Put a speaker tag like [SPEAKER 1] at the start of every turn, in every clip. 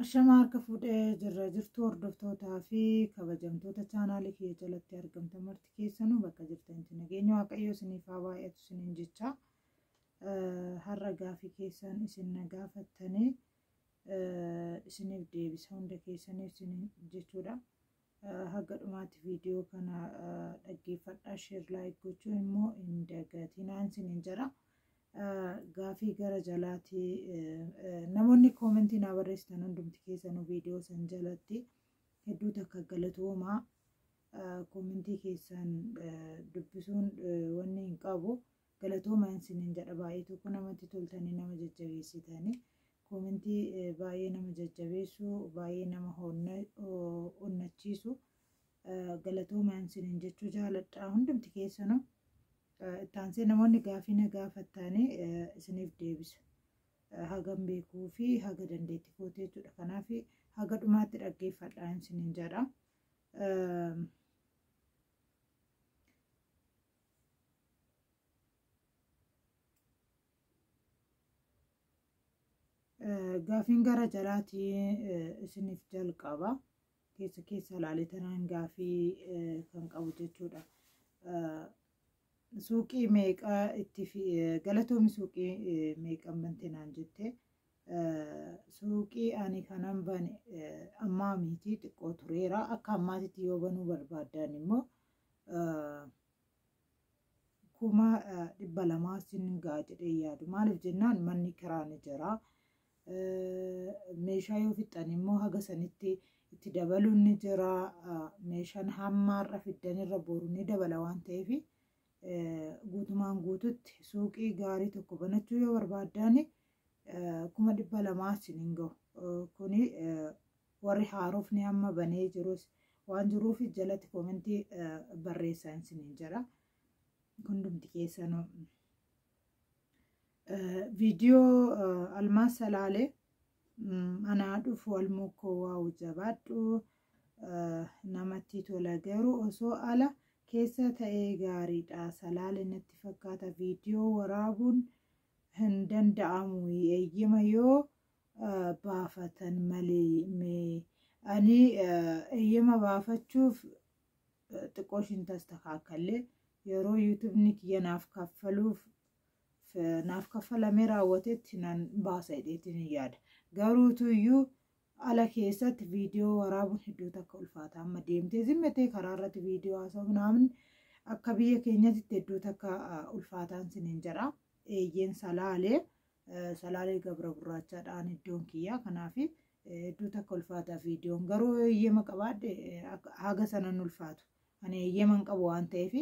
[SPEAKER 1] Ashamaa harka fuudhee jirra jirtu hordoftootaa fi kabajamtoota chaanaalii kiyya jalatti argamtan marti keessanuu bakka jirtanitti nageenya waaqayyoo isiniif haa baay'atu isiniin jecha har'a gaafii keessan isin na gaafattanii isiniif deebisa hunda keessaniif isiniin jechuudha. Haga dhumaatti viidiyoo kana dhaggeeffadhaa sheer laayik gochuu immoo hin dagatinaan sinin jedha. Gaafii gara jalaati namoonni koomentii naa barreessitan hundumti keessanuu viidiyoo san jalatti hedduu takka galatoomaa koomentii keessan dubbisuun wanni hin qabu. Galatoomaa isiniin jedha baay'ee tokko namatti toltanii nama jajjabeessitani koomentii baay'ee nama jajjabeessu baay'ee nama onnachiisu galatoomaa isiniin jechuu jaaladha hundumti keessanu ittaansee namoonni gaafii na gaafattaanii isiniif deebisa hagan beekuu fi haga dandeetti kootee jechuudha kanaaf haga dhumaatti dhaggeeffadhaa isiniin jedha. Gaafiin gara jalaatiin isiniif jalqaba. Keessa keessa ilaalee tanaan gaafii kan qabu jechuudha. Suuqii meeqa itti galatoomi suuqii meeqan bante naan jette. Suuqii ani kanan bane ammaa miti xiqqoo tureera. Akka ammaatitti yoo banuu barbaaddan immoo kuma dhibba lamaa sin ga'a jedhee yaadu maaliif jennaan manni kiraa ni jira meeshaa yoo fixxan immoo haga sanitti itti dabaluun ni jira meeshaan hammaarra fiddanirra boru ni dabala waan ta'eef guutumaan guututti suuqii gaarii tokko banachuu yoo barbaaddan kuma dhibba lamaa sin hin gahu kuni Warri haarofni amma banee jirus waan jiruufi jalatti koomentii barreessaa isiniin jedha. Hundumti keessanuu. Viidiyoo Almaas Salaalee anaa dhufu almuukkoo waa'u jabaadhu namatti tola garuu osoo ala keessa ta'ee gaariidha salaale natti fakkaata viidiyoo waraabuun hin danda'amu eeyyama yoo baafatan malee mee ani eeyyama baafachuuf xiqqoo ishiin tastakaakkallee yeroo yuutubni kiyya naaf kaffaluuf naaf kaffalamee raawwatetti nan baasa jedheetiin yaada garuutuyyuu ala keessatti viidiyoo waraabuun hedduu takka ulfaata amma deemtee zimmatee karaa irratti viidiyoo haasa'u naamun akka biyya keenyatti hedduu takka ulfaataan siniin jedha eeyyeen salaalee Salaalee gabra gurraachaadhaan iddoon kiyyaa kanaaf hedduu takka ulfaataa viidiyoon garuu eeyyama qabaadhe haga sanan ulfaatu ani eeyyaman qabu waan ta'eef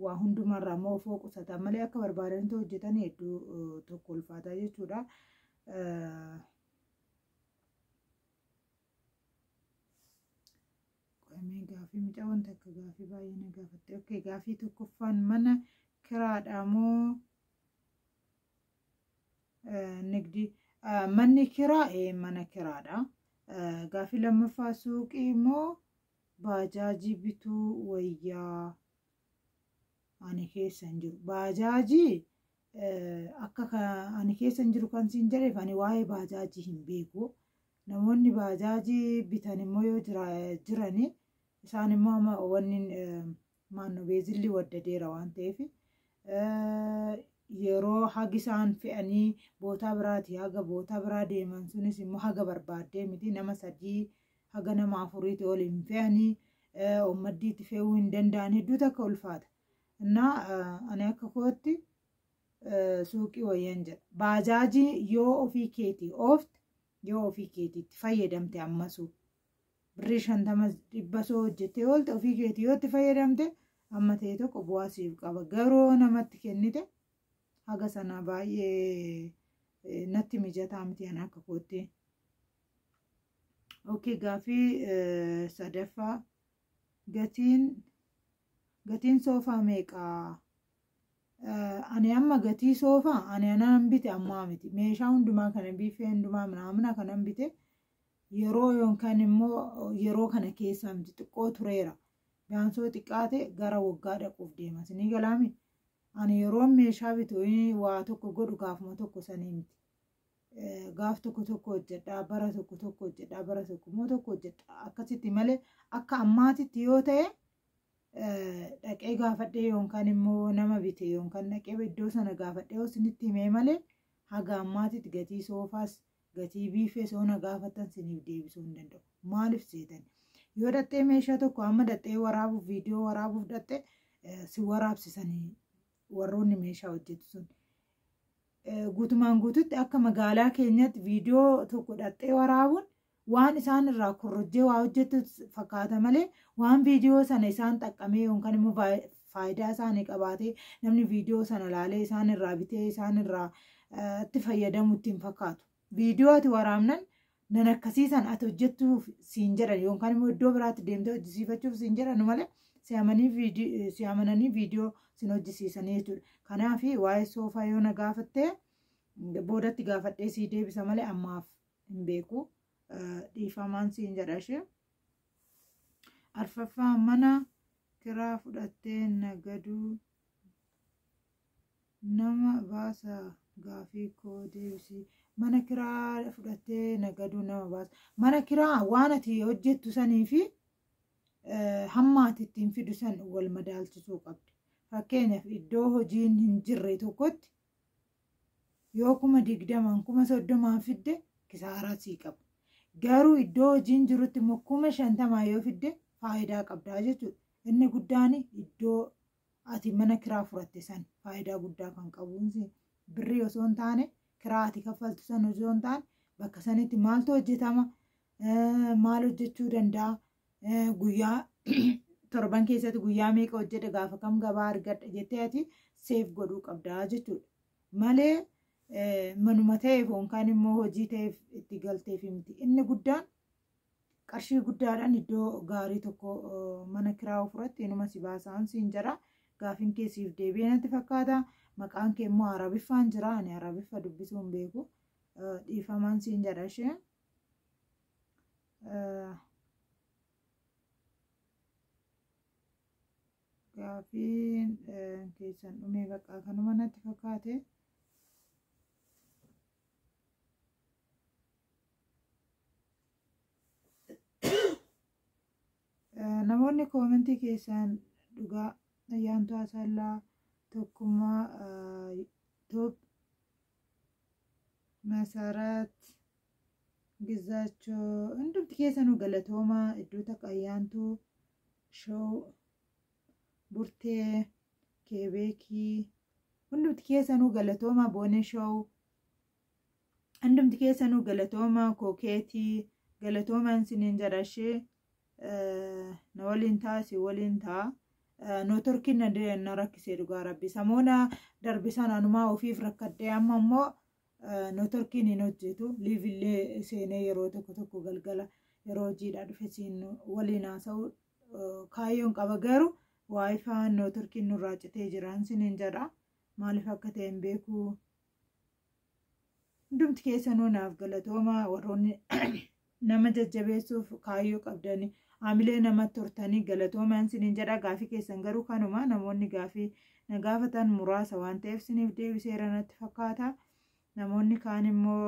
[SPEAKER 1] waa hundumarraa immoo ofoo qusataan malee akka barbaadanitti hojjetan hedduu tokko ulfaataa jechuudha. Qo'amee gaafii mucaa wanta akka gaafii baay'ee na gaafatte. Okkee gaafii tokkoffaan mana kiraadhaa moo nigdii manni kiraa mana kiraadha. Gaaffii lammaffaa suuqii immoo baajaajii bituu wayyaa ani keessa hin jiru. Baajaajii akka ani keessa hin jiru kan siin jedheef ani waa'ee baajaajii hin beeku. Namoonni baajaajii bitan immoo yoo jirani isaan immoo amma wanni maanno beezilli waddadeera waan ta'eef yeroo hagi isaan fe'anii bootaa biraatii haga bootaa biraa deeman sunis immoo haga barbaaddee miti nama sadii haga nama afuriiti ol hin fe'anii ummaddiitti fe'uu hin danda'an hedduu takka ulfaata. Innaa ani akka kootti suuqii wayyan jedha. Baajaajii yoo ofii keetii oofte yoo ofii keetiitti fayyadamte ammasuu birrii shantama dhibba soo hojjettee oolte ofii keetii yoo itti fayyadamte amma ta'e tokko bu'aa siif qaba garuu yoo namatti kennite haga sana baay'ee eh, natti mijataa miti ani akka kootti. Ookee gaafii eh, sadaffaa gatiin gatiin soofaa meeqaa? Eh, Ani amma gatii soofaa ani anaan bite ammaa miti meeshaa hundumaa kana biifee hundumaa minaamina kanan bite yeroo yookaan immoo yeroo kana keessaa miti xiqqoo tureera biyaansoo xiqqaate gara waggaa dhaquuf deema sinii galaami ani yeroo meeshaa bitu waa tokko godhu gaafuma tokko sanii miti gaaf tokko tokko hojjedhaa bara tokko tokko hojjedhaa bara tokko immoo tokko hojjedhaa akkasitti malee akka ammaatitti yoo ta'e dhaqee gaafadhee yookaan immoo nama bite yookaan dhaqee iddoo sana gaafadhee osinitti himee malee haga ammaatitti gatii soofaas Gatii biiffee osoo na gaafattan siniif deebisuu hin danda'u. Maaliif seetan? Yoo dhaxxee meeshaa tokko amma dhaxxee waraabuuf viidiyoo waraabuuf dhaxxe si waraabsisanii warroonni meeshaa hojjetu sun. Guutumaan guututti akka magaalaa keenyatti viidiyoo tokko dhaxxee waraabuun waan isaan irraa korrojjee waa hojjetu fakkaata malee waan viidiyoo sana isaan xaqqamee yookaan immoo faayidaa isaanii qabaatee namni viidiyoo sana laalee isaan irraa bitee isaan irraa itti fayyadamu ittiin fakkaatu. Viidiyoo ati waraabnan nan akkasiisan ati hojjettuuf siin jedhan yookaan immoo iddoo biraatti deemtee hojjisiifachuuf siin jedhan malee si amananii viidiyoo sin hojjisiisanii jechuudha. Kanaaf waa'ee soofaa yoo na gaafattee boodatti gaafadhee sii deebisa malee ammaaf hin beeku. Dhiifamaan siin jedha ishee. Arfaffaa mana kiraa fudhattee nagaduu nama baasa gaafii koo deebisii mana kiraa fudhattee nagaduu nama baasa mana kiraa waan ati hojjettu sanii fi eh, hamma ati ittiin fidu san wal madaalchisuu qabda fakkeenyaaf iddoo hojiin hin jirre tokkotti yoo kuma digdamaan kuma soddomaan fidde kisaaraa sii qaba. Garuu iddoo hojiin jirutti immoo kuma shantamaa yoo fidde faayidaa qabdaa jechuudha. Inni guddaan iddoo ati mana kiraa furatte san faayidaa guddaa kan qabuun birrii osoo hin taane kiraa ati kaffaltu san osoo hin taane bakka sanitti maaltu hojjetama maal hojjechuu danda'a guyyaa torban keessatti guyyaa meeqa hojjedha gaafa kam gabaa argadha jettee ati seef godhuu qabdaa jechuudha. Malee manuma ta'eef yookaan immoo hojii ta'eef itti galteef miti. Inni guddaan qarshii guddaadhaan iddoo gaarii tokko mana kiraa ofirratti inuma si baasaan siin jira. Gaafin kee siif deebi'ee natti fakkaata. Maqaan kee immoo arabiffaan jira. Ani arabiffa dubbisuu hin beeku. Dhiifamaan siin jedha ishee. Gaafiin keessan dhumee baqaa kanuma natti fakkaate. Namoonni koomentii keessan dhugaa ayyaantu asallaa tokkummaa toob masarat Gizaachoo hundumti keessanuu galatoomaa iddoo takka ayyaantuu show burtee keebeekii hundumti keessanuu galatoomaa boonee show hundumti keessanuu galatoomaa kookeetii galatoomaan siniin jarashee na waliin taa si waliin taa nootorkiin na rakkisee dhugaa rabbi samoona darbisan anumaa ofiif rakkadhee amma immoo Notorkiin hin hojjetu liivillee seenee yeroo tokko tokko galgala yeroo hojiidhaa dhufe siin waliin haasa'u kaayyoon qaba garuu waayifaan notorkiin nurraa citee jiraan sinin jedha maaliif akka ta'e hin beeku hundumti keessanuu naaf galatooma warroonni nama jajjabeessuuf kaayyoo qabdanii haamilee namatti hortanii galatoomaan siniin jedha gaafii keessan garuu kanuma namoonni gaafii na gaafatan muraasa waan ta'eef siniif deebiseera natti fakkaata namoonni kaan immoo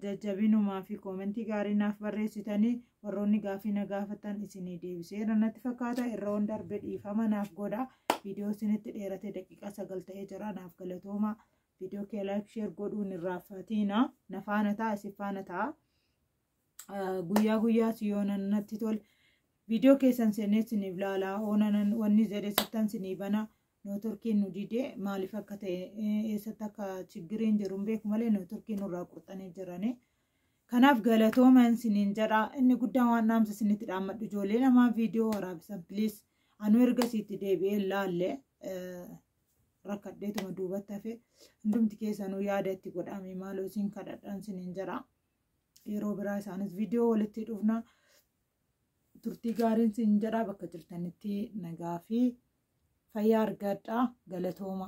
[SPEAKER 1] jajjabinumaa fi koomentii gaarii naaf barreessitanii warroonni gaafii na gaafatan isinii deebiseera natti fakkaata irra waan darbe dhiifama naaf godha viidiyoo isinitti dheerate daqiiqaa sagal ta'ee jira naaf galatoomaa. Viidiyoo kee like share godhuun irraa fatiina na faana ta'a isin faana ta'a. Guyyaa guyyaas yoo natti tole viidiyoo keessan seenee isiniif laalaa oonanan wanni jedhe sittan isinii bana nootorkiin nu didee maaliif akka ta'e eessatti akka chiggiriin jiru hin beeku malee nootorkiin nurraa qurxanii jiranii. Kanaaf galatooma isiniin jedha inni guddaan waan dhaamsa isinitti dhaammadhu ijoollee namaa viidiyoo waraabisan piliis anuu erga isiitti deebi'ee laalle rakkadheetuma duubatti hafe hundumti keessanuu yaada itti godhame maaloo isin kadhadhaan sinin jedha yeroo biraa isaanis viidiyoo walitti dhufna turtii gaariin sin jedha bakka jirtanitti nagaa fi fayyaa argadhaa galatooma.